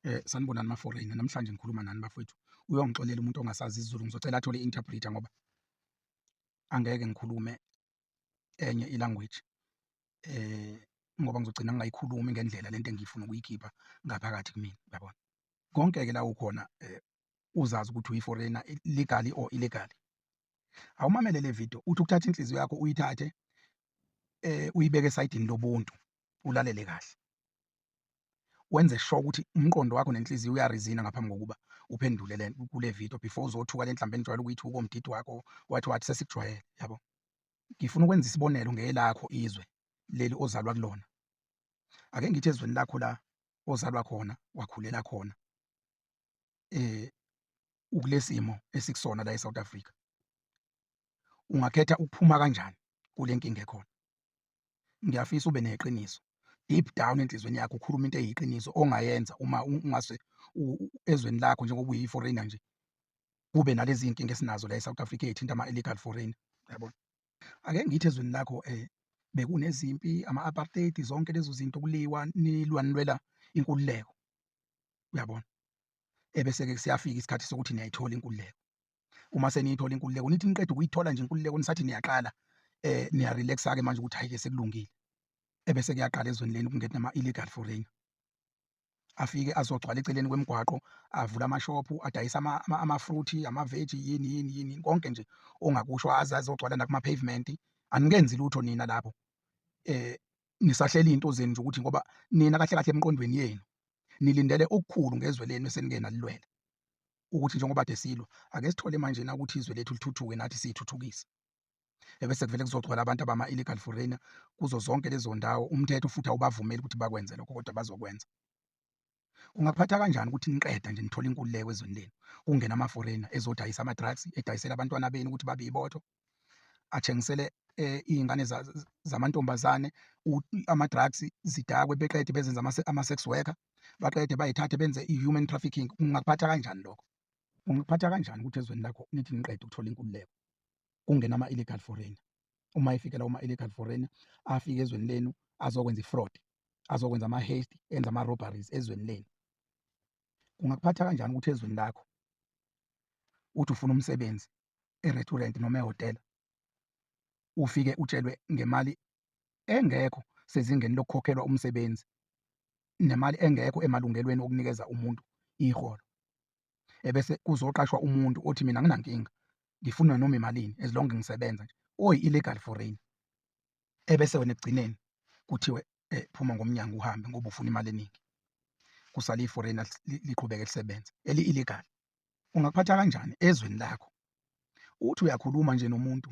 Eh sanibonani ma foreigner namhlanje ngikhuluma nani bafowethu uyongixolela umuntu ongasazi isiZulu ngizocela athole interpreter ngoba angeke ngikhulume enye ilanguage eh ngoba ngizogcina ngingayikhulumi ngendlela lento engiyifuna ukuyikhipha ngaphakathi kumina uyabona konke ke la ukhona eh, uzazi ukuthi uyiforeigner legally or illegally awumamele le video uthi ukuthatha inhliziyo yakho uyithathe eh uyibeke esayidini lobuntu ulalele kahle wenze sure ukuthi umqondo wakho nenhliziyo uyarizina ngaphambi kokuba uphendule le kule video before uzothuka le nhlamba enijwayele ukuyithuka komdidi wakho wathi wathi sesikujwayele yabo ngifuna ukwenza isibonelo ngelakho izwe leli ozalwa kulona ake ngithi ezweni lakho la ozalwa khona wakhulela khona eh ukulesimo esikusona la eSouth Africa ungakhetha ukuphuma kanjani kule nkinga ekhona ngiyafisa ube neqiniso deep down enhlizweni yakho ukhuluma into eyiqiniso ongayenza uma ungase ezweni lakho njengoba uyi-foreigner nje kube nalezi iy'nkinga esinazo la e-south africa eyithinta ama-illegal foreigner yabona ake ngithi ezweni lakho um bekunezimpi ama-apartheid zonke lezo zinto kuliwa nilwa nilwela inkululeko uyabona ebese-ke siyafika isikhathi sokuthi niyayithola inkululeko uma seniyithola inkululeko nithi niqeda ukuyithola nje inkululeko nisathi niyaqala eh niya relax ke manje ukuthi hayike sekulungile ebese kuyaqala ezweni leni kungena nama illegal foreigner afike azogcwala eceleni kwemigwaqo avula amashophu adayisa ama-fruit amaveji yini yini yini konke nje ongakusho aze azogcwala nakuma-pavement anikenzi lutho nina lapho eh nisahleli into zenu nje ukuthi ngoba nina kahle kahle emqondweni yenu nilindele okukhulu ngezwe lenu eseningena lilwela ukuthi njengoba de silwa ake sithole manje na ukuthi izwe lethu lithuthuke nathi siyithuthukise ebese kuvele kuzogcwala abantu abama illegal foreigner kuzo zonke lezo ndawo umthetho futhi awubavumeli ukuthi bakwenze lokho kodwa bazokwenza kungaphatha kanjani ukuthi niqeda nje nithola inkululeko ezweni lenu kungena ama foreigner ezodayisa ama drugs edayisela abantwana benu ukuthi babe ibotho athengisele eh, iy'ngane zamantombazane ama-drugs zidakwe beqede bezenza ama-sex worker baqede bayithathe benze i-human trafficking ungakuphatha kanjani lokho ungikuphatha kanjani ukuthi ezweni lakho nithi niqede ukuthola inkululeko kungena ama-illegal foreigner uma efikela uma illegal foreigner afike ezweni lenu azokwenza i-fraud azokwenza ama-haste enza ama-robberies ezweni lenu kungakuphatha kanjani ukuthi ezweni lakho uthi ufuna umsebenzi e-restaurant noma ehhotela ufike utshelwe ngemali engekho sezingeni lokukhokhelwa umsebenzi nemali engekho emalungelweni okunikeza umuntu iholo ebese kuzoqashwa umuntu othi mina nginankinga ngifuna noma imalini as long ngisebenza nje oyi illegal foreign ebese wena ekugcineni kuthiwe eh, phuma ngomnyango uhambe ngoba ufuna imali eningi kusale i-foreigner liqhubeke lisebenze eli-illegal ungakuphatha kanjani ezweni lakho uthi uyakhuluma nje nomuntu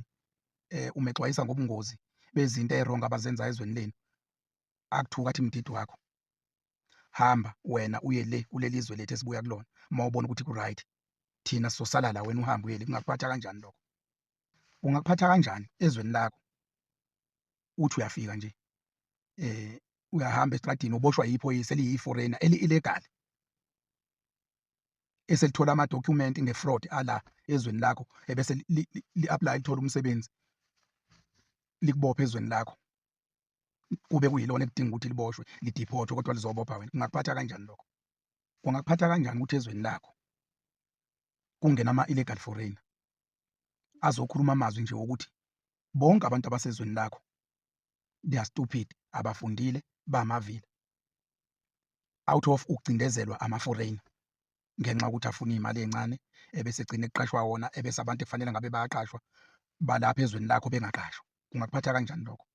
eh umexwayisa ngobungozi bezinto eronga abazenza ezweni lenu akuthuka athi mdidi wakho hamba wena uye le kuleli zwe lethu esibuya kulona uma ubona ukuthi ku-right thina sosala la wena uhambe uye le kungakuphatha kanjani lokho ungakuphatha kanjani ezweni lakho uthi uyafika nje eh uyahamba estradini uboshwa yiphoyisa eliyi-foreigner eli-illegal eselithola amadokhumenti nge-fraud ala ezweni lakho ebese li-apply lithola umsebenzi likubophe ezweni lakho kube kuyilona ekudinga ukuthi liboshwe lidiphothwe kodwa lizobopha wena kungakuphatha kanjani lokho kungakuphatha kanjani ukuthi ezweni lakho kungena ama-illegal foreigner azokhuluma amazwi nje wokuthi bonke abantu abasezweni lakho they are stupid abafundile bamavila out of ukucindezelwa ama-foreign ngenxa yokuthi afuna iy'mali ey'ncane ebese egcine kuqashwa wona ebese abantu ekufanele ngabe bayaqashwa balapha ezweni lakho bengaqashwa kungakuphatha kanjani lokho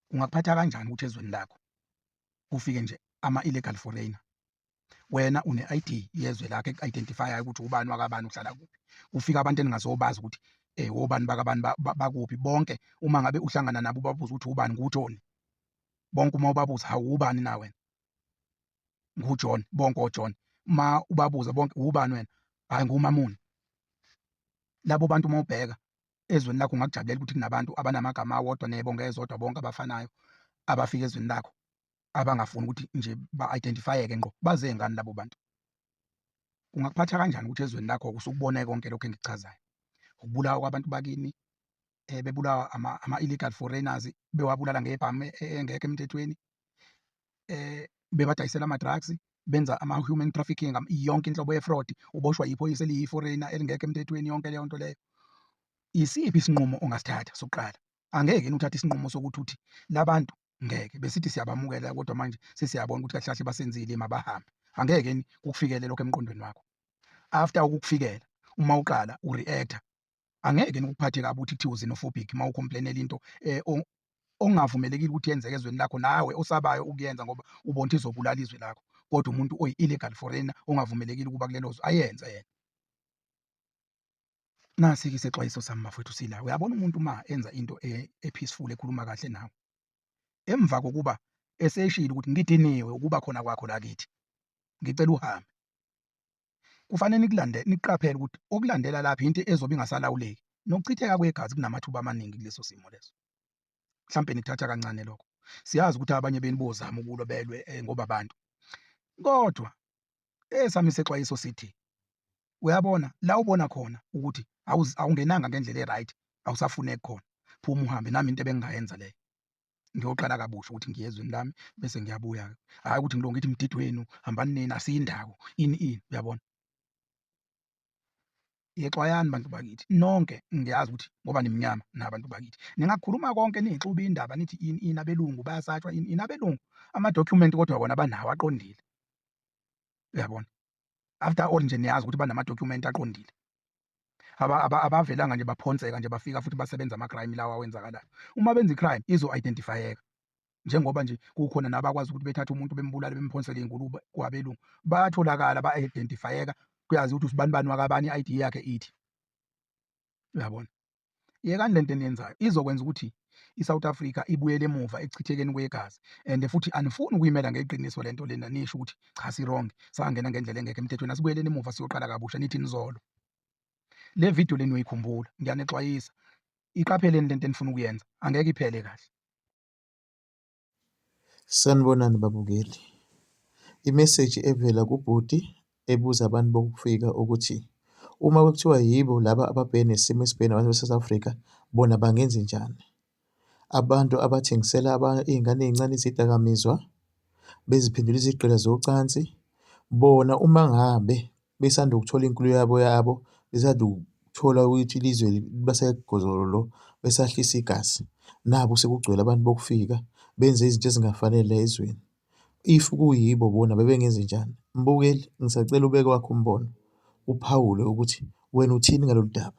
kungakuphatha kanjani ukuthi ezweni lakho kufike nje ama-illegal foreigner wena une-id yezwe lakho eku-identifyayo ukuthi ubani wakabani uhlala kuphi kufika abantu eningazobazi ukuthi um wobani bakabani bakuphi bonke uma ngabe uhlangana nabo ubabuza ukuthi ubani nguthoni bonke uma ubabuza hawu ubani na wena nguJohn bonke oJohn uma ubabuza bonke ubani wena hayi ngumamuni labo bantu uma ubheka ezweni lakho ungakujabulela ukuthi kunabantu abanamagama awodwa nebonke ezodwa bonke abafanayo abafika ezweni lakho abangafuni ukuthi nje ba-identifyeke ngqo baze ngani labo bantu kungakuphatha kanjani ukuthi ezweni lakho usukubone konke lokho engikuchazayo ukubulawa kwabantu bakini eh, bebulawa ama-illegal foreigners bewabulala ngebhamu e, e, engekho emthethweni eh bebadayisela ama-drugs benza ama-human trafficking yonke inhlobo ye-fraud uboshwa yiphoyisa eliyi-foreigner elingekho emthethweni yonke leyo nto leyo isiphi isinqumo ongasithatha sokuqala angeke yini uthathe isinqumo sokuthi uthi labantu ngeke besithi siyabamukela kodwa manje sesiyabona ukuthi kahle kahle basenzile mabahambe angeke yini kukufikele lokho emqondweni wakho after ukukufikela uma uqala ureactor angeke nikuphathe kabi ukuthi kuthiwa uzinofobhic uma ukhomplainela into eh, ongavumelekile ukuthi yenzeke ezweni lakho nawe osabayo ukuyenza ngoba ubona ukuthi izobulala izwe lakho kodwa umuntu oyi-illegal foreigner ongavumelekile ukuba kulelo zwe ayenze yena nasi-ke isexwayiso sami bafowethu sila uyabona umuntu uma enza into e-, e-peaceful ekhuluma kahle nawe emva kokuba eseshile ukuthi ngidiniwe ukuba khona kwakho lakithi ngicela uhambe Kufanele nikulande niqaphele ukuthi okulandela lapha into ezobe ingasalawuleki nokuchitheka kwegazi kunamathuba amaningi kuleso simo leso. Mhlampe nikuthatha kancane lokho. Siyazi ukuthi abanye benu bozama ukulwa belwe eh, ngoba abantu. Kodwa esami sexwayiso sithi uyabona la ubona khona ukuthi awungenanga ngendlela e-right awusafuneki khona phuma uhambe nami into ebengingayenza leyo ngiyoqala kabusha ukuthi ngiye ezweni lami bese ngiyabuya hhayi ukuthi ngilonge ithi mdidi wenu hambani nina asiyindawo ini ini uyabona yexwayani bantu bakithi nonke ngiyazi ukuthi ngoba nimnyama nabantu bakithi ningakhuluma konke niyixuba indaba nithi ini ini abelungu bayasatshwa ini ini abelungu amadokhumenti kodwa wona banawo aqondile uyabona after all nje niyazi ukuthi banamadokhumenti aqondile abavelanga nje baphonseka nje bafika futhi basebenza ama-crime lawa awenzakalayo uma benza i-crime izo-identifyeka njengoba nje kukhona nabakwazi ukuthi bethathe umuntu bembulale bemphonsele ingulube kwabelungu bayatholakala ba-identifyeka kuyazi ukuthi usibani bani wakabani i-id yakhe ithi uyabona yekani lento eniyenzayo izokwenza ukuthi iSouth Africa ibuyele emuva ekuchithekeni kwegazi and futhi anifuni ukuyimela ngeqiniso lento lena nisho ukuthi cha si wrong sangena ngendlela engekho emthethweni asibuyeleni emuva siyoqala kabusha nithi nizolo le video leni uyikhumbula ngiyanixwayisa iqapheleni lento enifuna ukuyenza angeke iphele kahle Sanibonani babukeli, imeseji evela kubhuti ebuza abantu bokufika ukuthi uma kuthiwa yibo laba ababhekene nesimo esibhekene nabantu base-South Africa bona bangenzenjani. Abantu abathengisela iy'ngane ey'ncane izidakamizwa, beziphendula izigqila zocansi bona uma ngabe besanda ukuthola inkulu yabo yabo besanda ukuthola ukuthi ilizwe libasegozololo besahlisa igazi naku sekugcwele abantu bokufika benze izinto ezingafanele ezweni if kuyibo bona bebengenze njani mbukeli ngisacela ubeke wakho umbono uphawule ukuthi wena uthini ngalolu daba.